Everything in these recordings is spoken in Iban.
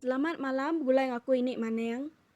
Selamat malam begulai ngaku ini maneng.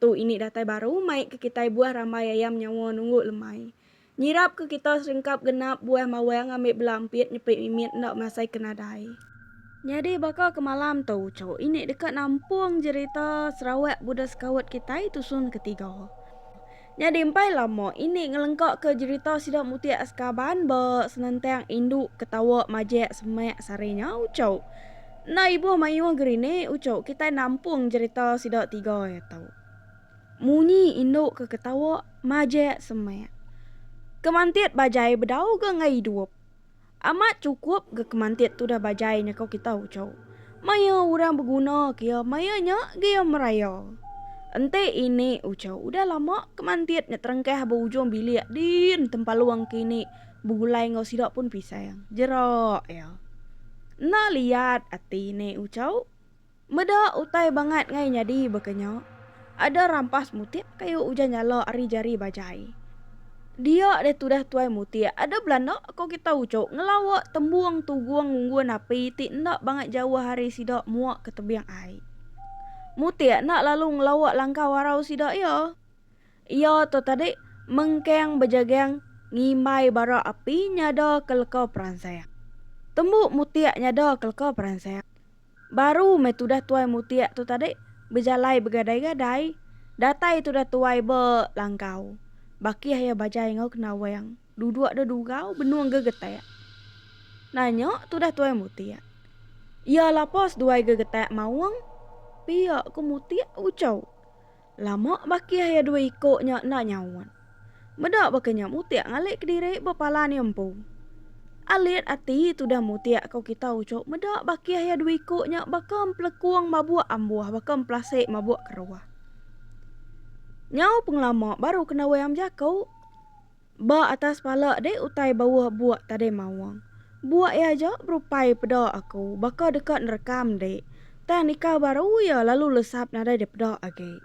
Tu ini datai baru mai ke kitai buah rambai ayam nyawa nunggu lemai. Nyirap ke kita serengkap genap buah mawang ngambi bela empit nyepit mimit enda masai ke nadai. Nyadi baka ke malam tu uchu ini deka nampung jerita Sarawak Buda Sekaut kitai tusun ke tiga. Nyadi empai lama ini ngelengka ke jerita sida mutik Askaban ba senentang indu ke tawa majak semak sari nya uchu. Enda ibuh mayuh gerinik uchu kitai nampung jerita sida tiga iya tu. Munyi indu ke ketawa majek semek. Kemantit bajai bedau ga enggai idup. Amat chukup ga kemantit tudah bajai nyekau kita uchu. Maya orang beguna ke iya maya nya ga iya meraya. Enti ini uchu udah lama kemantit nyeterengkah ba ujung bilik din tempalung ke ini Begulai enggau sida pun pisang. Jerak iya. Enda liat ati ne Uchau. Meda utai bangat ngai nyadi baka nya. Ada rampas mutik kayu ujan nyala ari jari bajai. Dia deh tudah tuai mutik ada belanda ko kita Uchau ngelawa tembung tugung ngunggun api ti enda bangat jauh ari sida mua ke tebing ai. Mutik enda lalu ngelawa langkau arau sida iya. Iya tu tadi mengkang bejagang ngimbai bara api nyada ke leka peransang. Tembu Mutik nyada ke leka peransang. Baru meh tudah Tuai Mutik tu tadi bejalai begadai-gadai, datai tudah Tuai Be Langkau. Bakih iya bajai enggau Kenawang, duduk deh dugau benung gegetak. Nanya tudah Tuai Mutik. Iya lapa seduai gegetak maung? Pia ku Mutik uchau. Lama bakih iya dua iko nya enda nyaut. Meda baka nya mutik ngalik kediri ba palan iya empu. Alit ati tudah mutik ko kita uchup meda bakih iya dua iko nya baka empelekung mabuk ambuh baka empelasik mabuk keruh. Nyau pengelama baru kena wayang bejako. Ba atas pala deh utai bauh buak tadai maung. Buak iya aja berupai peda aku baka deka nerekam deh. Tang nikau baru iya lalu lesap nadai deh peda agi.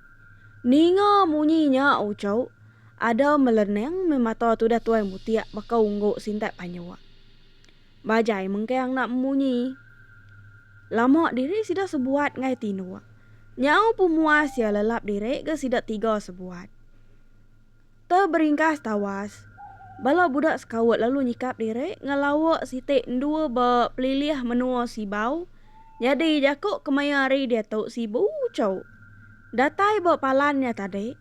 Ninga munyi nya uchu, ada melening meh mata tudah tuai mutik baka unggu sintak panyuk. Bajai mengkang enda munyi. Lama diri sida sebuat ngai tinduk. Nyau pemuas iya lelap diri ga sida tiga sebuat. Tau beringkas tawas. Bala budak sekaut lalu nyikap diri ngelawa siti endua ba pelilih menua Sibau. Nyadi jaku kemaya hari diatu Sibu chau. Datai ba palan nya tadi,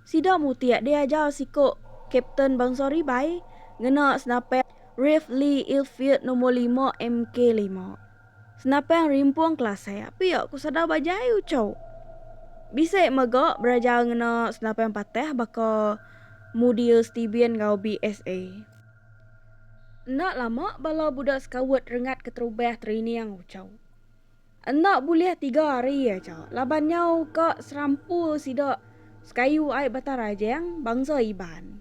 sida mutik diajar siku Kapten bansa Ribai ngena senapit Rifle Ilfield Nombor Lima MK lima. Senapang rimpung Kelasai apik ku Sadau Bajai Uchau. Bisi mega berajar ngena senapang patah baka Mudia Stebian enggau BSA. Enda lama bala budak Scout rengat keterubah training Uchau. Enda bulih tiga hari aja laban nyau ka serampu sida Sekayu ai Batang Rajang bangsa Iban.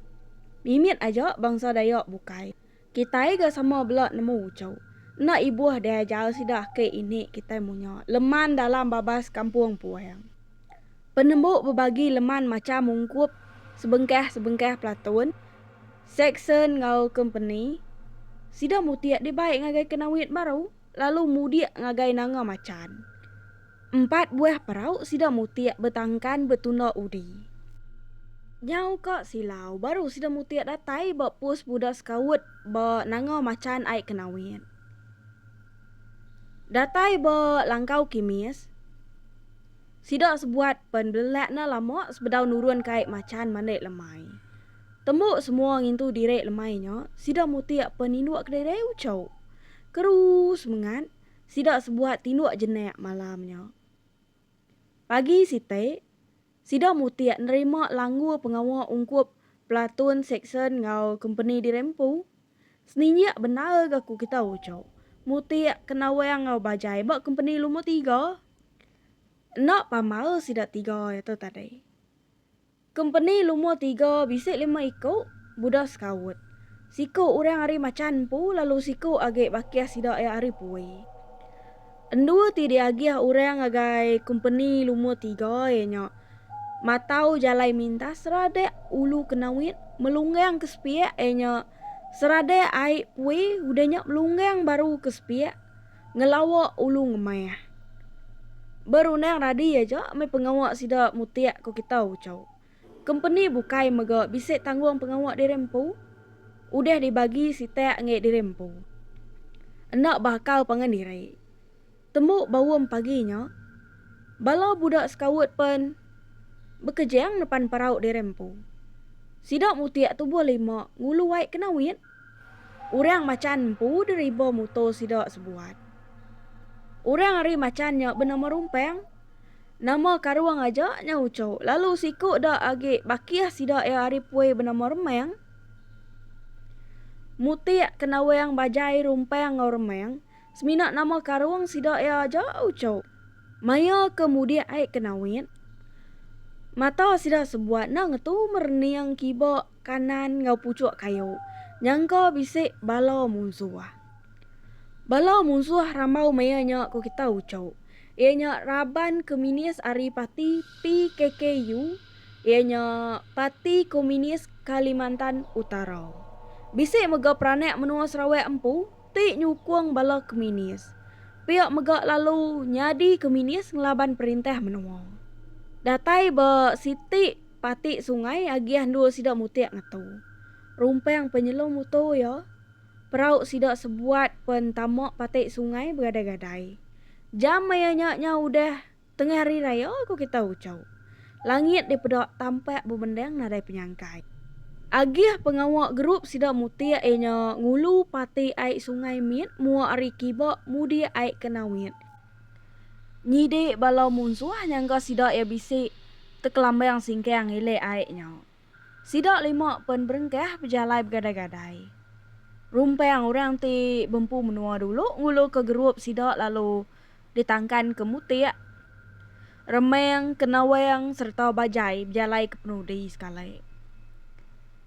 Mimit aja bangsa Dayak bukai. Kitai ga sama bela nemu uchu. Enda ibuh deh ajar sida ake ini kitai munya leman dalam babas kampung puang. Penembu bebagi leman macham ungkup sebengkah-sebengkah pelatun, seksen enggau kompeni. Sida mutih dibai ngagai kenawit baru. lalu mudik ngagai Nanga Machan. Empat buah perau sida mutik betangkan betunda udi. Nyau ka silau baru sida mutik datai ba pos buda sekaut ba Nanga Machan ai Kenawit. Datai ba Langkau Kimis, sida sebuat pen belelak ne lama sebedau nurun kai Machan mandi lemai. Tembu semua ngintu diri lemai nya, sida mutik pen indu kedai-kedai uchu. Kerus mengat sida sebuat tinduk jenak malam nya. Pagi siti, sida mutik nerima langgur pengawa ungkup platoon, seksyen enggau kompeni di Rempu. Seninjik bendar ga ku kita uchup mutik kenawang enggau bajai ba kompeni lumur tiga. Enda pamar sida tiga iya tu tadi. Kompeni lumur tiga bisi lima iku buda sekaut. Siku orang ari Machan empu lalu siku agi bakih sida iya ari Pui. Endu ti diagih orang ngagai kompeni lumur tiga iya nya matau jalai mintas seradik Ulu Kenawit melunggang ke sepiak iya nya seradik ai Pui udah nya melunggang baru ke sepiak. Ngelawa ulu ngemah. Berundang radi aja meh pengawa sida mutik ku kita ucau. Kompeni bukai mega bisi tanggung pengawa diri empu. Udah dibagi sitak ngi diri empu. Enda beakal pangan diri. Tembu baum pagi nya, bala budak sekaut pen bekejang nepan perau diri empu. Sida mutik tubuh lima ngulu wai ke nawit. Orang machan empu deriba muto sida sebuat. Orang ari machan nya benama Rumpang. Nama karung aja nya ucho lalu siku da agi bakih sida iya ari pui benama Remang. Mutik ke nawang bajai Rumpang enggau Remang semina nama karung sida iya aja ucho. Maya ke mudik ai ke Nawit, mata sida sebuat enda ngetu merening kiba Kanan enggau puchuk kayu nyangka bisi bala munsuh. Bala munsuh rambau maya nya ku kita uchuh iya nya raban keminis ari parti PKKU iya nya Parti Komunis Kalimantan Utara. Bisi mega peranak menua Sarawak empu ti nyukung bala keminis pia mega lalu nyadi keminis ngelaban perintah menua. Datai ba siti. Pati sungai agih endur sida mutik ngetu. Rumpang penyelum mutu iya. Perau sida sebuat pen tama pati sungai begadai-gadai. Jam maya nya nyau udah tengah hari raya ku kita uchu. Langit dipeda tampak bebendang nadai penyangkai. Agih pengawa gerup sida mutik iya nya ngulu pati ai sungai mit mua ari kiba mudik ai ke Nawit. Nyidi bala munsuh nyangka sida iya bisi tekelambang singkang ilik ai nya. Sida lima pen berengkah bejalai begadai-gadai. Rumpang orang ti bempu menua dulu ngulurka gerup sida lalu ditangkanka Mutik, Remang, Kenawang sereta Bajai bejalai ke penudi sekali.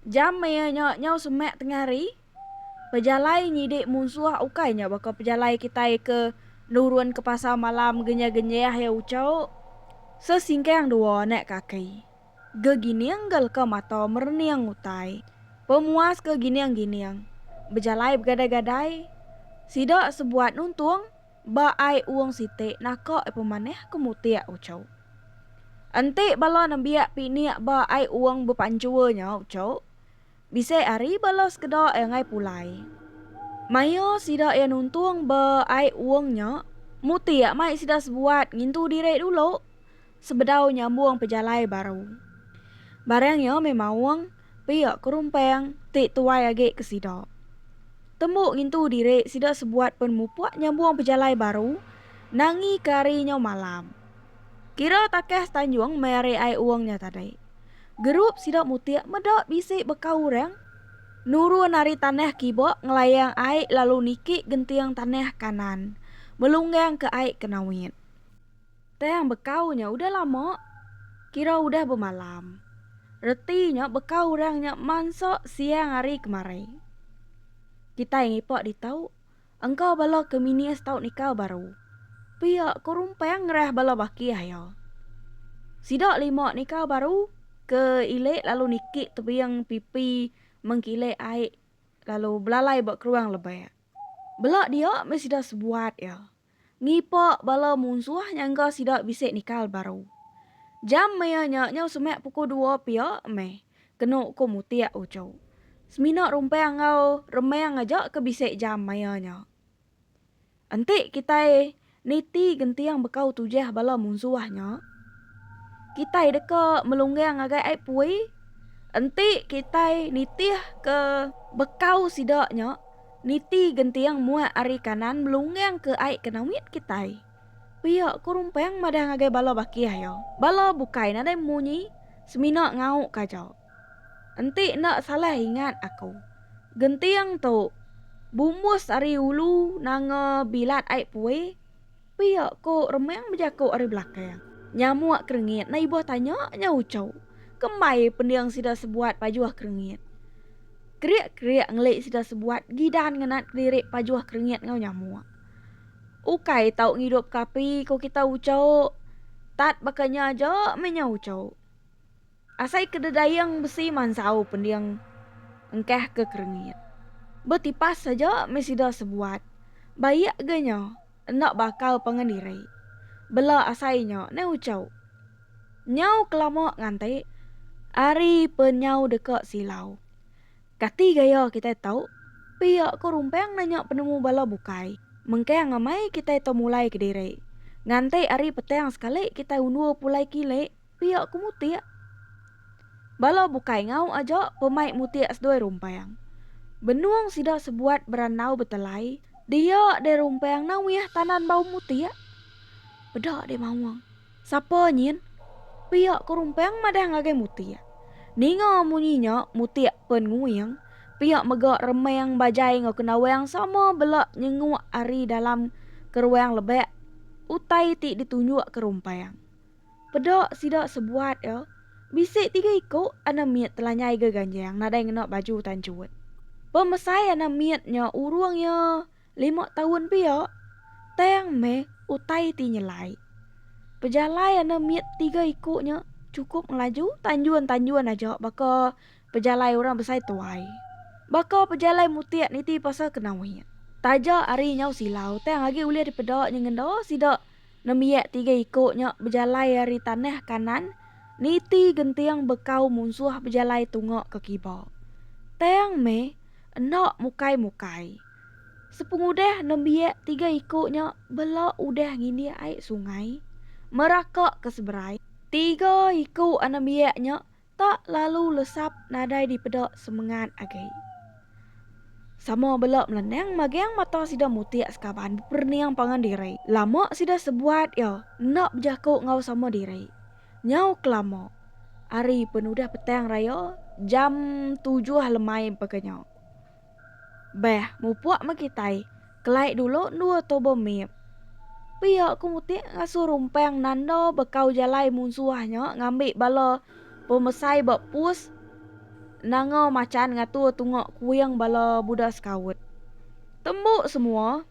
Jam maya nya nyau semak tengah hari. Pejalai nyidik munsuh ukai nya baka pejalai kitai ke nurun ke pasar malam genyah-genyah iya ucau. Sesingkang dua anak kaki. Gegining ga leka mata merening utai. Pemuas ke gining-gining. Bejalai begadai-gadai. Sida sebuat nuntung ba ai ung siti naka iya pemanah ke mutik ucau. Enti bala nembiak pinik ba ai ung bepanjua nya ucau. Bisi ari bala sekeda iya enggai pulai. Maya sida iya nuntung ba ai uung nya, Muti iya mai sida sebuat ngintu diri dulu sebedau nyambung pejalai baru. Barang iya meh maung pia kerumpang ti tuai agi ke sida. Tembu ngintu diri sida sebuat pen mupuk nyambung pejalai baru nangika ari nyau malam. Kira takah setanjung meh ari ai uong nya tadai. Gerup sida mutik meda bisi beka urang nurun ari tanah kiba ngelayang ai lalu niki genting tanah kanan melunggang ke ai ke nawit. Tang bekau nya udah lama kira udah bemalam. Reti nya beka urang nya mansa siang ari kemari. Kitai ngipak ditau. Engkau bala ke minis tau nikal baru. Pia ko Rumpang ngerah bala baki aya. Sida lima nikal baru ke ilik lalu niki tebing pipi mengkilik ai lalu belalai ba keruang lebak. Bela dia meh sida sebuat iya. Ngipa bala munsuh nyangka sida bisi nikal baru. Jam maya nya nyau semak pukul dua pia meh. kenu ku Mutik Ucho. Semina rumpang enggau remang aja ke bisi jam maya nya. Enti kitai niti genting bekau tujah bala munsuh nya, kitai deka melunggang ngagai ai pui enti kitai nitihka bekau sida nya niti genting muat ari kanan melunggangka ai ke nawit kitai. Pia ko Rumpang madah ngagai bala bakih iya. Bala bukai nadai munyi semina ngau kaja. Enti enda salah ingat aku, genting tu bumbus ari ulu nanga bilat ai pue, pia ko Remang bejako ari belakang. Nyamuk kerengit enda ibuh tanya nya uchu. Kembai pending sida sebuat pajuh kerengit. Kerik-kerik ngeli sida sebuat gidan ngenat kediri pajuh kerengit ngau nyamuk. Ukai tau ngidup ke api ko kita uco. Tat baka nya aja meh nya uco. Asai ke dedaing besi mansau pending engkah ke kerengit. Betipas aja meh sida sebuat. Baik ga nya enda bakal pangan diri. Bela asai nya neh uco. Nyau kelama nganti ari pe nyau deka silau. Kati gaya kitai tau pia ko rumpang nanya penemu bala bukai mengkang amai kitai tau mulai kediri. Nganti ari petang sekali kitai undur pulai kili pia ko mutik. Bala bukai ngau aja pemai mutik sedoi rumpang. Benung sida sebuat berandau betelai dia deh rumpang nawih tanan bau mutik. Peda deh maung. Sapa nyin? Piak ke rumpang madah ngagai Mutik. Ninga munyi nya, Mutik pen nguing. Piak mega remang bajai enggau Kenawang sama bela nyenguk ari dalam keruang lebak utai ti ditunjuk ke rumpang. Peda sida sebuat iya, bisi tiga iku anak mit telanyai geganjang nadai ngena baju tanchut. Pemesai anak mit nya urung iya Lima taun pia, tang meh utai ti nyelai. Pejalai ande mit tiga iku nya chukup ngelaju tanjun-tanjun aja baka pejalai orang besai tuai. Baka pejalai mutik niti pasal ke Nawit. Taja ari nyau silau tang agi ulih dipeda nyengenda sida nembiak tiga iku nya bejalai ari tanah kanan niti genting bekau munsuh bejalai tunga ke kiba. Tang meh enda mukai-mukai. Sepengudah nembiak tiga iku nya bela udah ngindik ai sungai Meraka ke seberai, tiga iku anembiak nya tak lalu lesap nadai dipeda semengat agi. Sama bela melenang magang mata sida mutik sekaban beperening pangan diri. Lama sida sebuat iya enda bejaku enggau sama diri. Nyau kelama ari penudah petang raya jam tujuh lemai baka nya. Beh, mupuk meh kitai. Kelai dulu endua tubuh mit. Pia ku Mutik ngasuh Rumpang nanda bekau jalai munsuh nya ngambi bala pemesai ba pus Nanga Machan ngatur tunga kuing bala buda Scout. Tembu semua,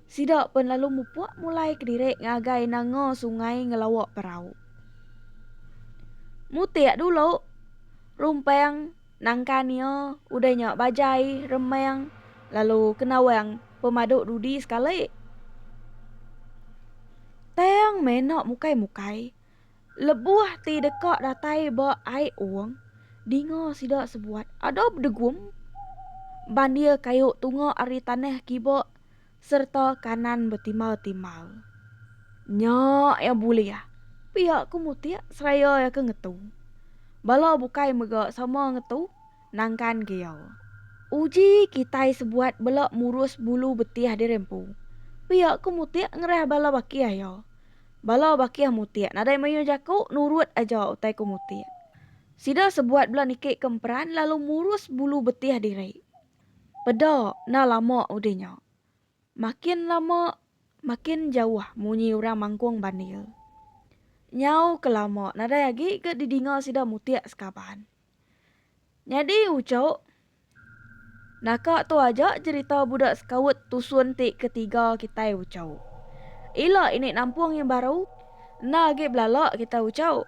sida pen lalu mupuk mulai kediri ngagai nanga sungai ngelawa perau. Mutik dulu, Rumpang Nangka nia udah nya Bajai, Remang lalu Kenawang pemadu dudi sekali. Tang meh enda mukai-mukai, lebuh ti deka datai ba Ai Ong, dinga sida sebuat ada bedegum bandir kayu tunga ari tanah kiba Serta kanan betimau-timau. Nya iya bulih. Pia ku Mutik seraya iya ke ngetu. Bala bukai mega sama ngetu nangkan ke iya. Uji kitai sebuat bela murus bulu betih diri empu. Pia ku Mutik ngerah bala bakih iya. Bala bakih Mutik nadai mayuh jaku nurut aja utai ku Mutik. Sida sebuat bela niki ke emperan lalu murus bulu betih diri. Peda enda lama udah nya. Makin lama makin jauh munyi orang mangkung bandil. Nyau ke lama nadai agi ke didinga sida mutik sekaban. Nyadi ucuk, naka tu aja cherita budak sekaut tusun ti ketiga kitai ucuk. Ila ini nampung yang baru, enda agi belala kitai ucuk.